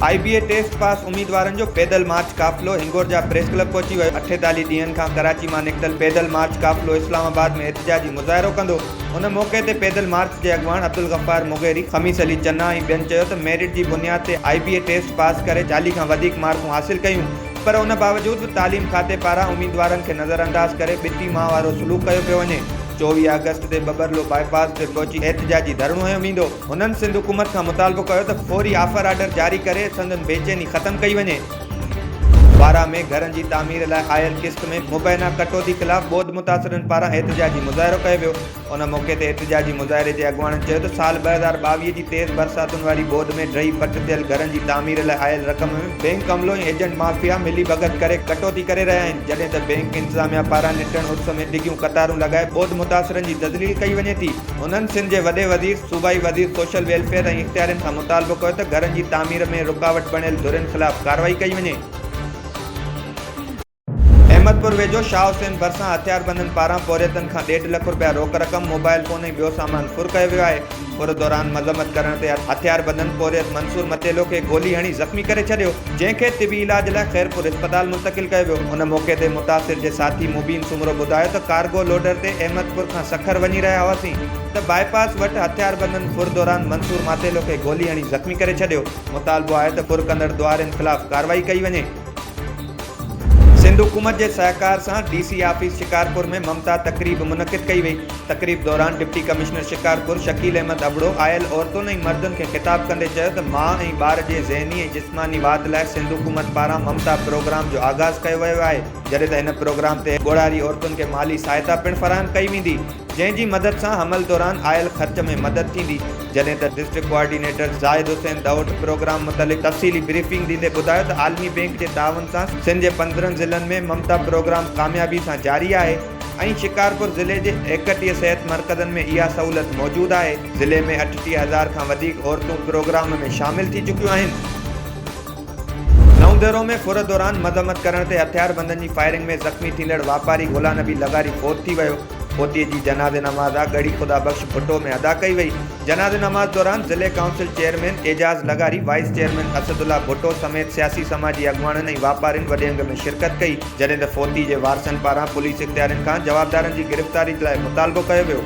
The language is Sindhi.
I B A test pass اميدوارن جو پيدل مارچ قافلو هنگورجا پريس ڪلب پهچي ويو اٺيتاليهه ڏينهن کان ڪراچي مان نڪتل پيدل مارچ قافلو اسلام آباد ۾ احتجاجي مظاهرو ڪندو ان موقعي تي پيدل مارچ جي اڳواڻ عبدالغفار مغيري، خميس علي چنا ۽ ٻين چيو ته ميرٽ جي بنياد تي آء بي اي ٽيسٽ پاس ڪري چاليهه کان وڌيڪ مارڪون حاصل ڪيون پر ان باوجود به تعليم کاتي پاران اميدوارن کي نظرانداز ڪري ٻٽي ماء وارو سلوڪ ڪيو پيو وڃي. چوويهه آگسٽ تي ٻٻرلو باء پاس تي پهچي احتجاجي ڌرڻو هنيو ويندو. هنن سنڌ حڪومت کان مطالبو ڪيو ته فوري آفر آرڊر جاري ڪري سندن بيچيني ختم ڪئي وڃي. بارا ۾ گهرن جي تعمير لاء آيل قسط ۾ مبينا ڪٽوتي خلاف ٻوڏ متاثرن پاران احتجاجي مظاهرو ڪيو ويو ان موقعي تي احتجاجي مظاهري جي اڳواڻن چيو ته سال ٻه هزار ٻاويهه جي تيز برساتن واري ٻوڏ ۾ ڊهي پٽ ٿيل گهرن جي تعمير لاء آيل رقم ۾ بئنڪ عملو ۽ ايجنٽ مافيا ملي ڀڳت ڪري ڪٽوتي ڪري رهيا آهن جڏهن ته بئنڪ انتظاميا پاران نٽڻ عرس ۾ ڊگهيون قطارون لڳائي ٻوڏ متاثرن جي تذليل ڪئي وڃي ٿي انهن سنڌ جي وڏي وزير صوبائي وزير سوشل ويلفيئر ۽ اختيارين کان مطالبو ڪيو ته گهرن جي تعمير ۾ رڪاوٽ بڻيل ڌرين خلاف ڪارروائي ڪئي وڃي. احمدپور ويجهو شاهه حسين ڀرسان هٿياربندن پاران پورهيتن کان ڏيڍ لک رپيا روڪ رقم، موبائل فون ۽ ٻيو سامان ڦر ڪيو ويو آهي. ڦر دوران مذمت ڪرڻ تي هٿياربندن پورهيت منصور متيلو کي گولي هڻي زخمي ڪري ڇڏيو، جنهن کي طبي علاج لاء خيرپور اسپتال منتقل ڪيو ويو. ان موقعي تي متاثر جي ساٿي مبين سومرو ٻڌايو ته ڪارگو لوڊر تي احمدپور کان سکر وڃي رهيا هئاسين، ته باء پاس وٽ هٿياربندن ڦر دوران منصور ماتيلو کي گولي هڻي زخمي ڪري ڇڏيو، مطالبو آهي ته ڦر ڪندڙ ڏوهارين خلاف ڪارروائي ڪئي وڃي. سنڌ حڪومت جي سهڪار سان ڊي سي آفيس شڪارپور ۾ ممتا تقريب منعقد ڪئي وئي، تقريب دوران ڊپٽي ڪمشنر شڪارپور شڪيل احمد ابڙو آيل عورتن ۽ مردن کي خطاب ڪندي چيو ته ماء ۽ ٻار جي ذهني ۽ جسماني واڌ لاء سنڌ حڪومت پاران ممتا پروگرام جو آغاز ڪيو ويو آهي، جڏهن ته هن پروگرام تحت ڳوڙهاري عورتن کي مالي سهائتا پڻ فراهم ڪئي ويندي. جنهن جي مدد سان حمل دوران آيل خرچ ۾ مدد ٿيندي جڏهن ته district coordinator Zahid Hussain Dahot programme متعلق تفصيلي بريفنگ ڏيندي ٻڌايو ته عالمي بينڪ جي تعاون سان سنڌ جي پندرهن ضلعن ۾ ممتا پروگرام ڪاميابي سان جاري آهي ۽ شڪارپور ضلعي جي ايڪٽيهه صحت مرڪزن ۾ اها سهولت موجود آهي ضلعي ۾ اٺٽيهه هزار کان وڌيڪ عورتون پروگرام ۾ شامل ٿي چڪيون آهن. نئون ديرو ۾ ڦر دوران مذمت ڪرڻ تي هٿياربندن جي فائرنگ ۾ زخمي ٿيندڙ واپاري گهولا نبي لغاري فوت ٿي ويو. پوتيء جي جنازي نماز آ ڳڙهي خدا بخش ڀٽو ۾ ادا ڪئي وئي. جنازي نماز دوران ضلعي ڪائونسل چيئرمين اعجاز لغاري، وائيس چيئرمين اسدالله ڀٽو سميت سياسي سماجي اڳواڻن ۽ واپارين وڏي انگ ۾ شرڪت ڪئي. جڏهن ته فوتي جي وارثن پاران پوليس اختيارين کان جوابدارن جي گرفتاري لاء مطالبو ڪيو ويو.